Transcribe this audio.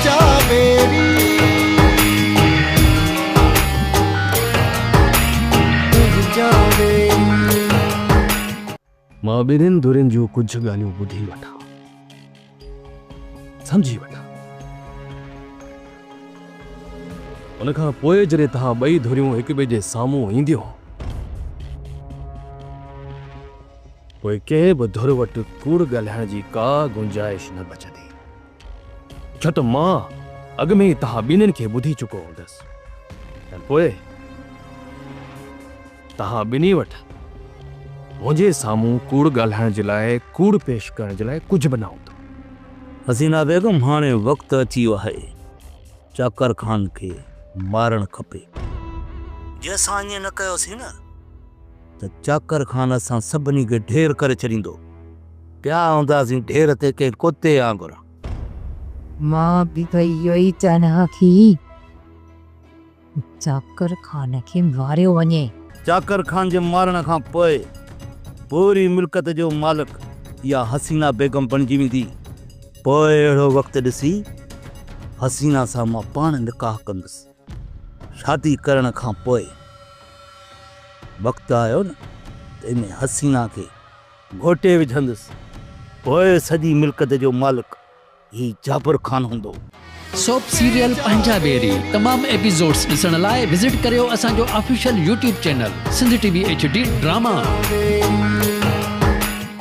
تنهنجا ويري تنهنجا ويري. مان ٻنهين ڌرين جون ڪجهه ڳالهيون ٻڌي وٺان، سمجهي وٺان. ان کان پوء جڏهن توهان ٻئي ڌريون هڪٻئي جي سامهون اينديون. پوء ڪنهن به ڌر وٽ ڪوڙ ڳالهائڻ جي ڪا گنجائش نه بچندي، ڇو ته مان اڳ ۾ ئي توهان ٻنهين کي ٻڌي چڪو هوندس ۽ پوء توهان ٻنهي وٽ منهنجي سامهون ڪوڙ ڳالهائڻ جي لاء، ڪوڙ پيش ڪرڻ جي لاء ڪجهه به نه هوندو. حسينا بيگم، هاڻي وقت اچي ويو آهي، چاڪر خان کي مارڻ کپي. جي اسان ائين نه ڪيوسين نه! ته چاڪر خان اسان سڀني کي ڍير ڪري ڇڏيندو. پيا هونداسين ڍير تي ڪنهن ڪتي آنگر. مان به ته اهو ئي چاهيان ها ته چاڪر خان کي ماريو وڃي. چاڪر خان جي مارڻ کان پوء پوري ملڪيت جو مالڪ اها حسينا بيگم بڻجي ويندي. پوء اهڙو وقت ڏسي حسينا سان مان پاڻ نڪاح ڪندس. شادي ڪرڻ کان پوء وقت آيو نه ته ان حسينه کي گهوٽي وجهندس. پوء سڄي ملڪت جو مالڪ هي جابر خان هوندو. سوپ سيريل پنهنجا ٻيري تمام ايپيسوڊس ڏسڻ لاء وزٽ ڪريو اسان جو official YouTube channel Sindh T V H D drama.